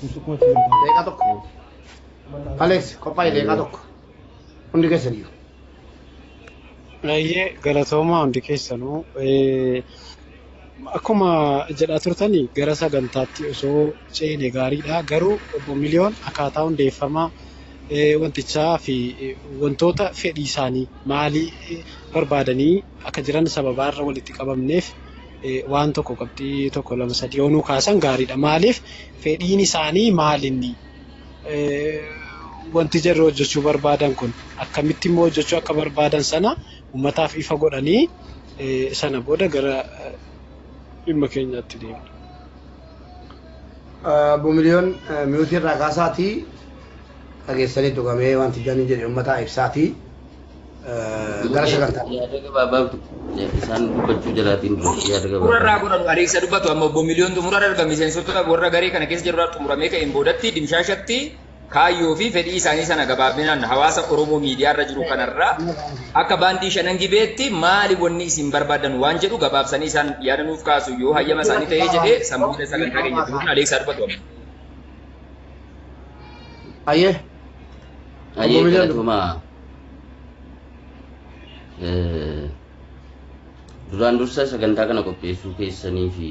Leeqaa tokko. Alex qophaa'e leeqaa tokko. Hundi keessan iyyuu. Baay'ee galatoomaa hundi keessanuu Eh, akkuma jedhaa turtan gara sagantaatti osoo ceene gaariidha. Garuu obbo Miliyoon akkaataa hundeeffama eh, wantichaa fi eh, wantoota fedhii isaanii maalii eh, barbaadanii akka jiran sababaa irra walitti qabamneef waan tokko qabxii tokko lama sadii yoo nuu kaasan gaariidha. Maaliif fedhiin isaanii maal inni wanti jarri hojjechuu barbaadan kun akkamitti immoo hojjechuu akka barbaadan sana uummataaf ifa godhanii sana booda gara dhimma keenyaatti deemna. Obbo Miliyoon mi'uutii irraa kaasaatii dhageessanii tuqamee wanti janii jedhe uummataa ibsaatii Gara Duuti sagantaa. yaada gabaabaabdu isaan dubbachuu jalaatiin dura Duuti yaada xumura irraa gabaabaa. godhanu ariisa dubbatu amma obbo Miliyoon xumura irra erga miseensota warra garee kana keessa jirurraa xumuramee ka'een boodatti dimshaashatti kaayyoo fi fedhii isaanii sana gabaabinaan hawaasa Oromoo miidiyaa irra jiru kanarraa akka baandii shanan gibeetti maali wanni isin barbaadan waan jedhu gabaabsanii isaan yaada nuuf kaasu yoo hayyama isaanii ta'ee jedhee san booda sagantaa keenya itti fufna ariisaa dubbatu amma. Ayyee. Ayyee Obbo Miliyoon. galatoomaa. Duraan dursa sagantaa kana qopheessuu keessanii fi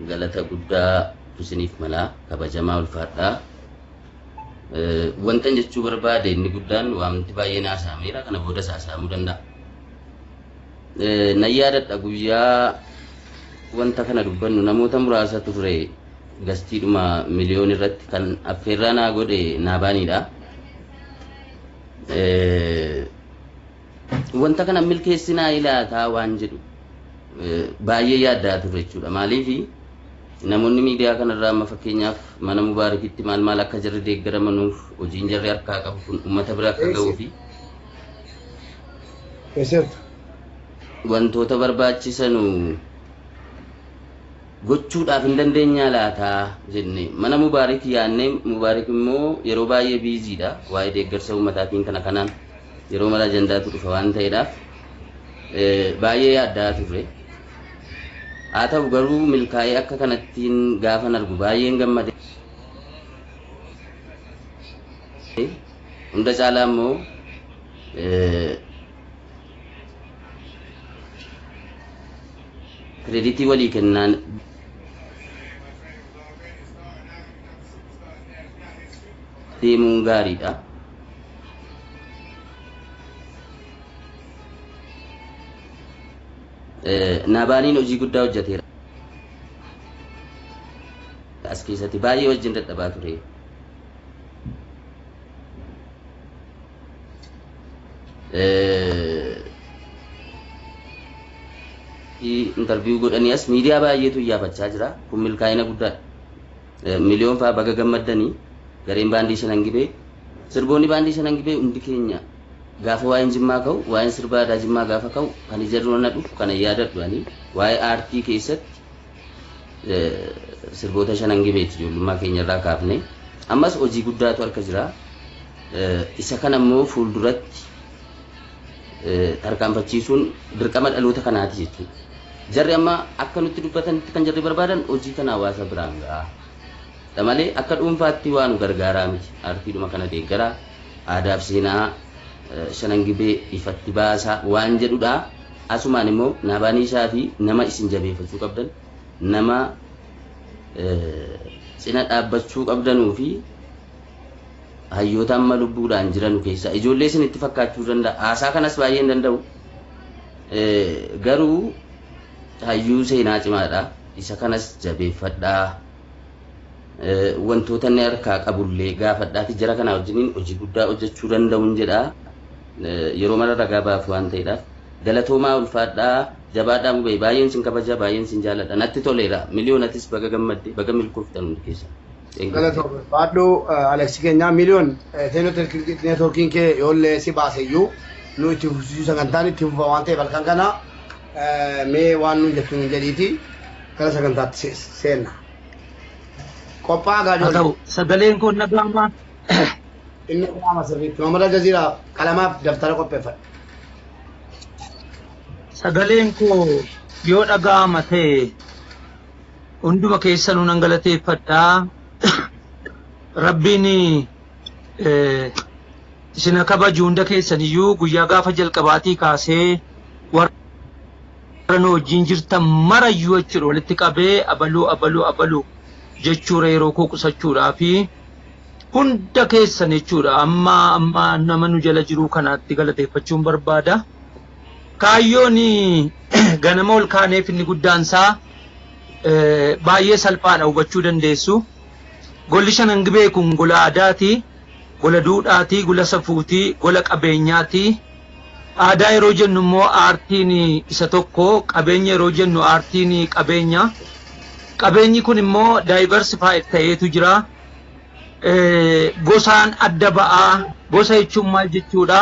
galata guddaa isiniif malaa kabajamaa ulfaadhaa. Wantan jechuu barbaade inni guddaan waanti baay'een haasa'ameera kana boodas haasa'amuu danda'a. Nan yaadadha guyyaa wanta kana dubbannu namoota muraasa turre Gastiidhuma miliyoon irratti kan affeerraa naa godhe Naabaaniidha. Wanta kana milkeessinaa ilaataa waan jedhu baay'ee yaaddaa turre jechuudha. Maaliif namoonni miidiyaa kanarraa amma fakkeenyaaf mana Mubaarakitti maal maal akka jarri deeggaramanuuf hojiin jarri harkaa qabu kun uummata bira akka ga'uu fi Eesseerta? wantoota barbaachisanu gochuudhaaf hin dandeenyaa laata? jennee mana Mubaarik yaannee Mubaarik immoo yeroo baay'ee biizii dha waa'ee deeggarsa uummataatiin kana kanaan yeroo mara ajandaatu dhufa waan ta'eedhaaf baay'ee yaaddaa turre. Haa ta'u garuu milkaa'ee akka kanattiin gaafan argu baay'een gammade. Hunda caalaa immoo Kireditii walii kennaan. deemuun gaariidha. Naabaaliin hojii guddaa hojjeteera. As keessatti baay'ee wajjin dadhabaa ture. intarviiyuu godhanii as miidiyaa baay'eetu iyyaafachaa jira kun milkaa'ina guddaadha. Miliyoon fa'aa baga gammaddanii gareen baandii shanan gibee sirboonni baandii shanan gibee hundi keenya gaafa waa'een jimmaa ka'u waa'een sirbaa aadaa jimmaa gaafa ka'u kan ija dura na dhufu kana yaadadhu ani waa'ee aartii keessatti Sirboota shanan gibeeti ijoollummaa keenya irraa kaafnee ammas hojii guddaatu harka jira. Isa kana immoo fuulduratti tarkaanfachiisuun dirqama dhaloota kanaati jechuudha. Jarri amma akka nutti dubbatanitti kan jarri barbaadan hojii kana hawaasa biraan ga'a. Dha malee akka dhuunfaatti waa nu gargaaraa miti. Aartiidhuma kana deeggaraa, aadaaf seenaa shanan gibee ifatti baasaa waan jedhudha. Asumaan immoo Naabaaniishaa fi nama isin jabeefachuu qabdan, nama cina dhaabbachuu qabdanuu fi hayyoota amma lubbuudhaan jiranu keessaa ijoollee isinitti fakkaachuu danda'a. Haasaa kanas baay'ee hin danda'u. Garuu hayyuu seenaa cimaadha. Isa kanas jabeeffadhaa. Wantoota inni harkaa qabullee gaafadhaati jara kanaa wajjiniin hojii guddaa hojjechuu danda'uun jedha. Yeroo mara ragaa ba'aaf waan ta'eedhaaf. Galatoomaa ulfaadhaa jabaadhaa mubee baay'een sin kabaja baay'een sin jaaladha natti toleera miliyoon atis baga gammadde baga milkooftan hundi keessan. Thank you. Galatoo barbaadhu Aleksi keenya miliyoon seenoo neetwoorkiin kee yoollee si baase iyyuu nu itti fufsiisuu sagantaan itti fufa waan ta'eef halkan kana mee waan nuun jettu nuun jedhiiti gara sagantaatti seenna. Qophaa gaa haa ta'u ijoollee. sagaleen koo na gaamaa Inni qaama sirriitti. Mamada Jaziiraa qalamaaf daftara qopheeffadha. sagaleen koo yoo dhaga'ama ta'e hunduma keessanuu nan galateeffadha. Rabbiin eh, isin haa kabaju hunda keessaniyyuu guyyaa gaafa jalqabaatii kaasee warra warra nu wajjin jirtan mara iyyuu jechuudha walitti qabee abaluu abaluu abaluu jechuudha yeroo koo qusachuudhaa fi hunda keessan jechuudha amma amma nama nu jala jiruu kanaatti galateeffachuun barbaada. Kaayyoon ganama ol kaaneef inni guddaan isaa baay'ee salphaadha hubachuu dandeessu. Golli shanan gibee kun gola aadaati, gola duudhaati, gola safuuti, gola qabeenyaati. Aadaa yeroo jennu immoo aartiin isa tokko, qabeenya yeroo jennu aartiin qabeenya. Qabeenyi kun immoo diversified ta'eetu jira. Gosaan adda ba'a. Gosa jechuun maal jechuudha?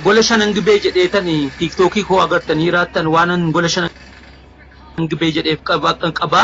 Gola shanan gibee jedheetan tiiktookii koo agartanii jiraattan waanan gola shanan gibee jedheef qaba.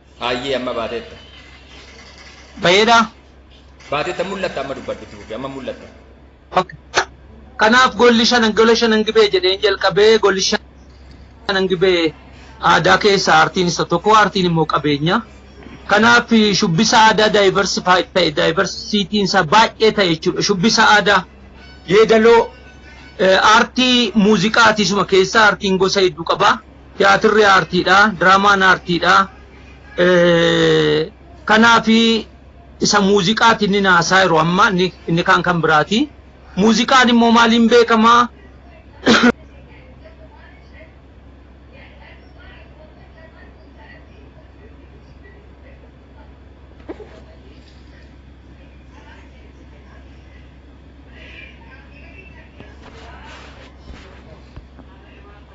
Haayyee amma baateetta. Bayeedha. Baateetta mul'atta amma dubbadhu itti fufi amma mul'atta. Ok. Kanaaf golli shanan gola shanan gibee jedheen jalqabee golli shanan gibee aadaa keessaa aartiin isa tokko aartiin immoo qabeenya. Kanaaf shubbisa aadaa diversified ta'e diversitiin isaa baay'ee ta'e jechuudha. Shubbisa aadaa yeedaloo eh, aartii muuziqaati isuma keessaa aartiin gosa hedduu qaba. Tiyaatirri aartiidha, diraamaan aartiidha. Kanaaf isa muuziqaati inni haasaa jiru amma inni kaan kan biraati. Muuziqaan immoo maaliin beekama?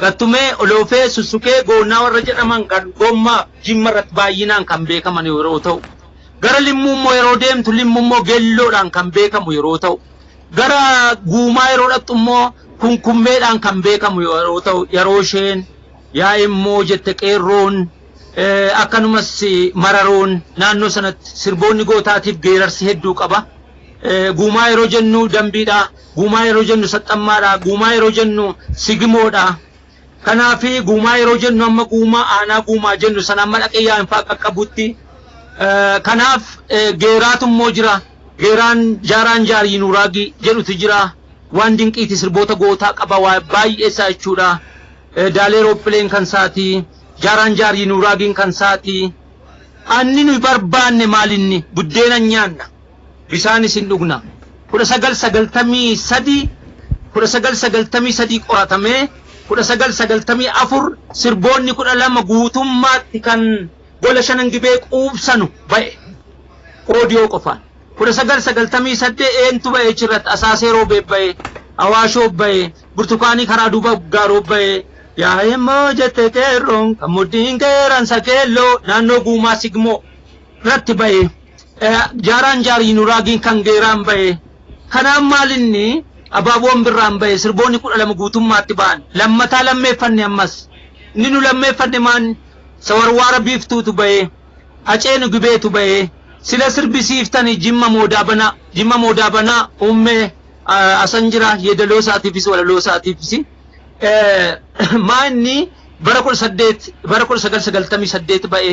Gattumee, Oloofee, Susukee, Goonnaa warra jedhaman kan Gommaaf Jimma irratti baay'inaan kan beekaman yeroo ta'u, gara Limmuu immoo yeroo deemtu Limmu immoo Gelloodhaan kan beekamu yeroo ta'u, gara Guumaa yeroo dhaqxu immoo Kunkummeedhaan kan beekamu yeroo ta'u, yeroo isheen yaa immoo jette qeerroon akkanumas mararoon naannoo sanatti sirboonni gootaatiif geerarsi hedduu qaba. Guumaa yeroo jennu dambiidha. Guumaa yeroo jennu saxxammaadha. Guumaa yeroo jennu sigimoodha. Kanaaf guumaa yeroo jennu amma guumaa aanaa guumaa jennu sana amma dhaqee yaa'infaa qaqqabutti. Kanaaf geeraatu immoo jira. Geeraan jaaraan jaarii nuuraagii jedhutu jira. Waan dinqiiti sirboota gootaa qaba waa baay'ee isaa jechuudha. Daalee roophileen kan isaati. Jaaraan jaarii nuuraagiin kan isaati. Anni nuyi barbaanne maalinni buddeena nyaanna. Bisaanis hin dhugna. 1993 1993 qoratamee 1994 sirboonni 12 guutummaatti kan Gola Shanan Gibee quubsanu ba'e. Audio qofaan. 1998 eentu ba'e achirratti Asaasee Roobee ba'e, Awaashoo ba'e, Burtukaanii karaa duuba Gaaroo ba'e. Yaa'eemmoo jette qeerroon kan mudhiin qeeransa keelloo naannoo Guumaa Sigmoo. irratti ba'e jaaraan jaarii nuraagiin kan geeraan ba'e kanaan maal inni abaaboon birraan ba'e sirboonni kudha lama guutummaatti ba'an lammataa lammeeffanne ammas inni nu lammeeffanne maan sawarwaara biiftuutu ba'e haceenu gibeetu ba'e sila sirbisiiftani jimma moodaa banaa jimma moodaa banaa uummee asan jira yeedaloo isaatiifis walaloo isaatiifis maa inni bara kudha saddeet bara kudha sagal sagaltamii saddeet ba'e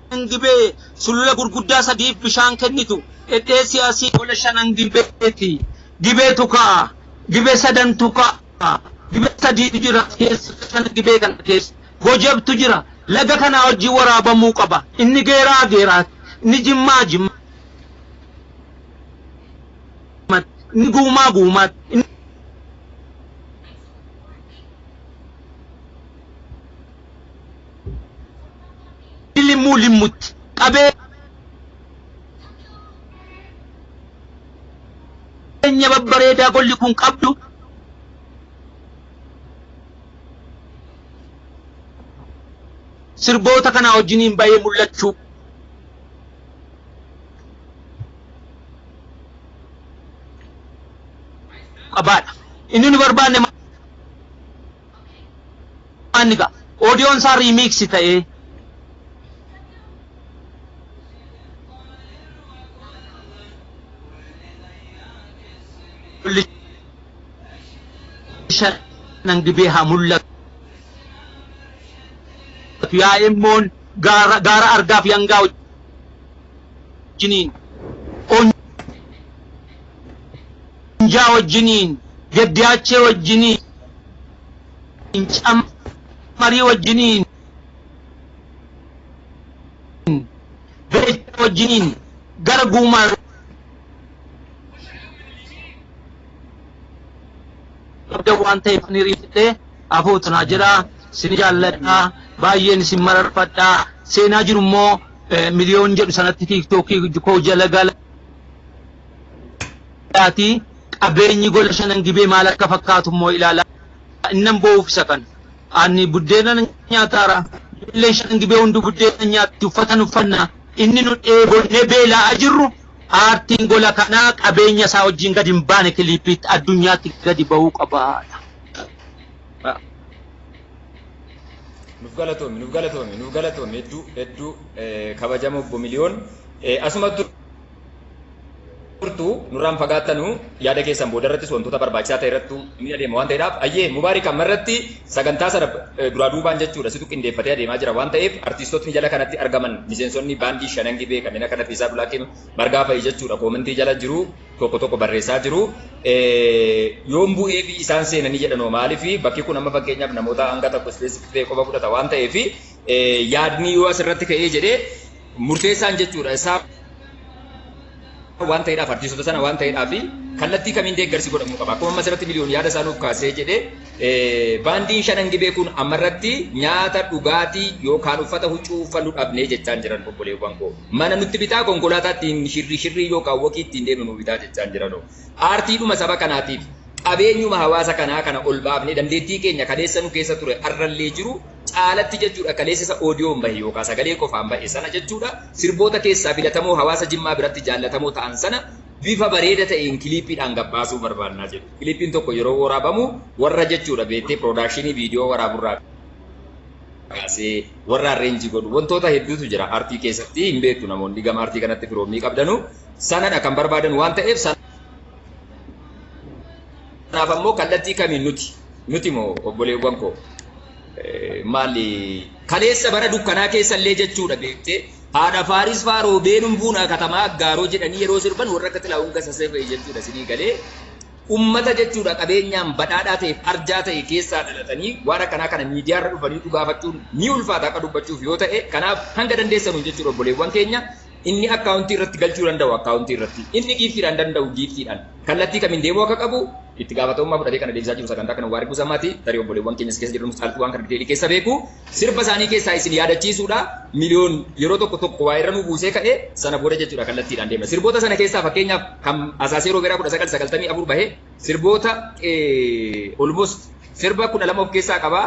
Shanan Gibee sulula gurguddaa sadiif bishaan kennitu dhedheessi asi. Gola Shanan Gibeeti. Gibeetu ka'a. Gibe sadantu ka'a. Gibe sadiitu jira as keessa Shanan Gibee kana keessa. Gojabtu jira. Laga kanaa wajjin waraabamuu qaba. Inni Geeraa Geeraatti. Inni Jimmaa Jimmaatti. Inni Guumaa Guumaatti. Inni. Limmuu Limmutti qabeenya babbareedaa golli kun qabdu sirboota kanaa wajjiniin bahee mul'achuu qabaadha. Inni nu barbaanne Waan ni ga'a. Audion isaa remix ta'ee. Shanan gibee haa mul'atu. Yaa immoon gaara gaara argaaf yangaa wajjiniin. Leenjaa wajjiniin, Geddiyaachee wajjiniin, Cammarii wajjiniin, Beejiraa wajjiniin gara Guumaa qabdan waan ta'eef ani riifadhee afuutu naa jedha sin jaalladha baay'een isin mararfadha seenaa jiru immoo miliyoon jedhu sanatti tiiktookii koo jala gala Ati qabeenyi gola shanan gibee maal akka fakkaatu immoo ilaalaa innan boo'uuf isa kana. Ani buddeena nan nyaataara, ijoolleen shanan gibee hunduu buddeena hin nyaatti, uffatan uffanna. Inni nu dheebonnee beela'aa jirru paartiin gola kanaa qabeenya isaa wajjin gadi hin baane kiliippiitti addunyaatti gadi ba'uu qabaadha. Nuuf galatoomi, nuuf galatoomi, nuuf galatoomi hedduu hedduu eh, kabajamoo obbo Miliyoon. Eh, Asumatti turtu nurraan fagaattanu yaada keessan booda irrattis wantoota barbaachisaa ta'e irrattu ni adeema waan ta'eedhaaf ayyee mubaarik amma irratti sagantaa sana duraa duubaan jechuudha situ qindeeffatee adeemaa jira waan ta'eef artiistotni jala kanatti argaman miseensonni baandii shanan gibee kanneen akka Nafiisaa Dulaakee margaa fa'i jechuudha koomentii jala jiru tokko tokko barreessaa jiru yoon bu'ee fi isaan seenanii jedhanoo maaliif bakki kun amma fakkeenyaaf namoota hanga tokko ispeesiif ta'e qofa fudhata waan ta'eef yaadni yoo asirratti ka'ee jedhee murteessaan jechuudha isaa waan ta'eedhaaf artiistota sana waan ta'eedhaaf kallattii kamiin deeggarsi godhamuu qaba akkuma ammas irratti miliyoon yaada isaa nuuf kaasee jedhee baandiin shanan gibee kun amma irratti nyaata dhugaatii yookaan uffata huccuu uffannu dhabnee jechaan jiran obboleewwan koo mana nutti bitaa konkolaataa ittiin shirrii shirrii yookaan wokii ittiin deemnu nu bitaa jechaan jiran aartiidhuma saba kanaatiif qabeenyuma hawaasa kanaa kana ol baafnee dandeettii keenya kaleessa nu keessa ture arrallee jiru caalatti jechuudha kaleessa isa oodiyoon bahe yookaa sagalee qofaan ba'e sana jechuudha sirboota keessaa filatamoo hawaasa Jimmaa biratti jaallatamoo ta'an sana bifa bareeda ta'een kiliippiidhaan gabbaasuu barbaannaa jedhu. Kiliippiin tokko yeroo waraabamu warra jechuudha beettee piroodakshinii viidiyoo waraaburraa kaasee warra arreenjii godhu wantoota hedduutu jira artii keessatti hin beektu namoonni gama artii kanatti firoommii qabdanu sanadha kan barbaadan waan ta'eef sana Kanaaf ammoo kallattii kamiin nuti, nuti moo obboleewwan koo maali kaleessa bara dukkanaa keessa illee jechuudha beektee haadha Faaris faa roobeenum buunaa katamaa aggaaroo jedhanii yeroo sirban warra akka Xilaawun Gassasee fa'i jechuudha sinii galee ummata jechuudha qabeenyaan badhaadhaa ta'eef arjaa ta'e keessaa dhalatanii waan akkanaa kana miidiyaarra dhufanii dhugaafachuun ni ulfaata akka dubbachuuf yoo ta'e kanaaf hanga dandeessanuun jechuudha obboleewwan keenya Inni akkaawuntii irratti galchuu danda'u akkaawuntii irratti, inni giiftiidhaan danda'u giiftiidhaan, kallattii kamiin deemuu akka qabu itti gaafatamummaa fudhatee kan adeemsisaa jiru sagantaa kana Mubaarik Gusamaati. Tarii obboleewwan keenya as keessa jiranus caaltuu waan kana diteelii keessa beeku. Sirba isaanii keessaa isin yaadachiisuudha. Miliyoon yeroo tokko tokko waa irra nu buusee ka'e, sana booda jechuudha kallattiidhaan deemna. Sirboota sana keessaa fakkeenyaaf kan Asaasee Roobeeraa 1994 bahe sirboota almost sirba 12 of keessaa qaba.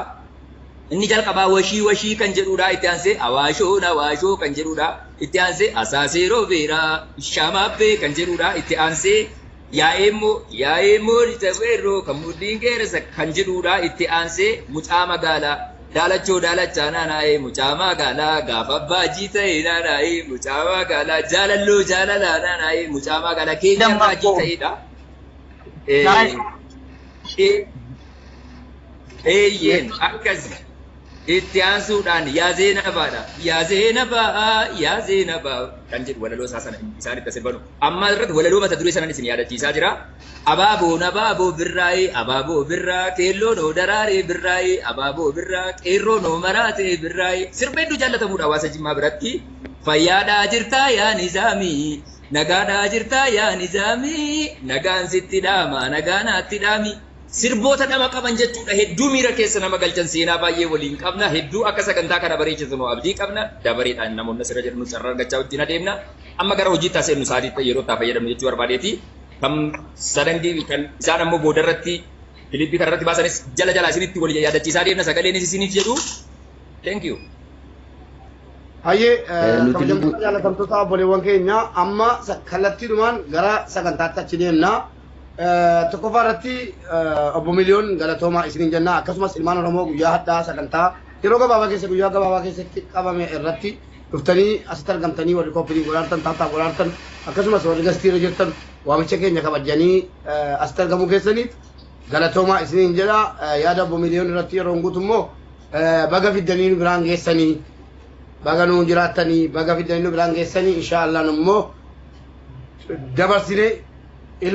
Inni jalqabaa washii washii kan jedhuudha itti aansee awaashoon awaashoo kan jedhuudha itti aansee asaasee roobeeraa ishaamaabbee kan jedhuudha itti aansee yaa'eemmoo yaa'eemmoo lixa weerroo kan mudhiin geerasa kan jedhuudha itti aansee mucaa magaalaa daalachoo daalachaa naanaa'ee mucaa magaalaa gaafa abbaa jiita'ee naanaa'ee mucaa magaalaa jaalalloo jaalalaa naanaa'ee mucaa magaalaa keenya irraa jiita'eedha. Nice. Eeyyeen akkasi. Itti aansuudhaan yaa Zeenabaadha. Yaa Zeenabaa, yaa Zeenabaa kan jedhu walaloo isaa sana isaan itti sirbanu. Amma irratti walaloo mata duree sanan isin yaadachiisaa jira. Abaaboon abaaboo birraa'ee, abaaboo birraa, keelloon hoo daraaree birraa'ee, abaaboo birraa, qeerroon hoo maraatee birraa'ee. Sirba hedduu jaallatamuudha hawaasa Jimmaa biratti. Fayyaadhaa jirtaa yaa Nizaamii, Nagaadhaa jirtaa yaa Nizaami Nagaan sitti dhaamaa nagaa naatti dhaami Sirboota dhama qaban jechuudha hedduu miira keessa nama galchan seenaa baay'ee waliin qabna hedduu akka sagantaa kana bareechisnu abdii qabna dabareedhaan namoonni asirra jedhamnu carraa argachaa wajjin adeemna amma gara hojiitti haa seennu sa'aatii yeroo itti haa fayyadamnu jechuu barbaadeeti kan sadangi kan isaan ammoo boodarratti kilippii kanarratti baasanis jala jalaa isinitti wal yaadachiisaa deemna sagaleenis isiniif jedhu Thank you. Hayyee Eh, nuti kabajamtoota lubbuu- jaalatamtoota obboleewwan keenya amma sa- kallattiidhumaan gara sagantaatti achi deemna. Eh, Tokkoffaa irratti eh, obbo Miliyoon galatoomaa isiniin jenna akkasumas ilmaan Oromoo guyyaa hadhaa sagantaa yeroo gabaabaa keessa guyyaa gabaabaa keessatti qabame irratti dhuftanii asitti argamtanii warri kooppirii walaartan taataa walaartan akkasumas warri gastiirra jirtan waamicha keenya kabajanii eh, asitti argamuu keessaniif galatoomaa isiniin jedha Eh, yaada obbo Miliyoon irratti yeroon guutu immoo Baga fiddanii nu biraan geessanii baga nuun jiraattanii baga fiddanii nu biraan geessanii inshaa Allah nu immoo dabarsinee ilmoo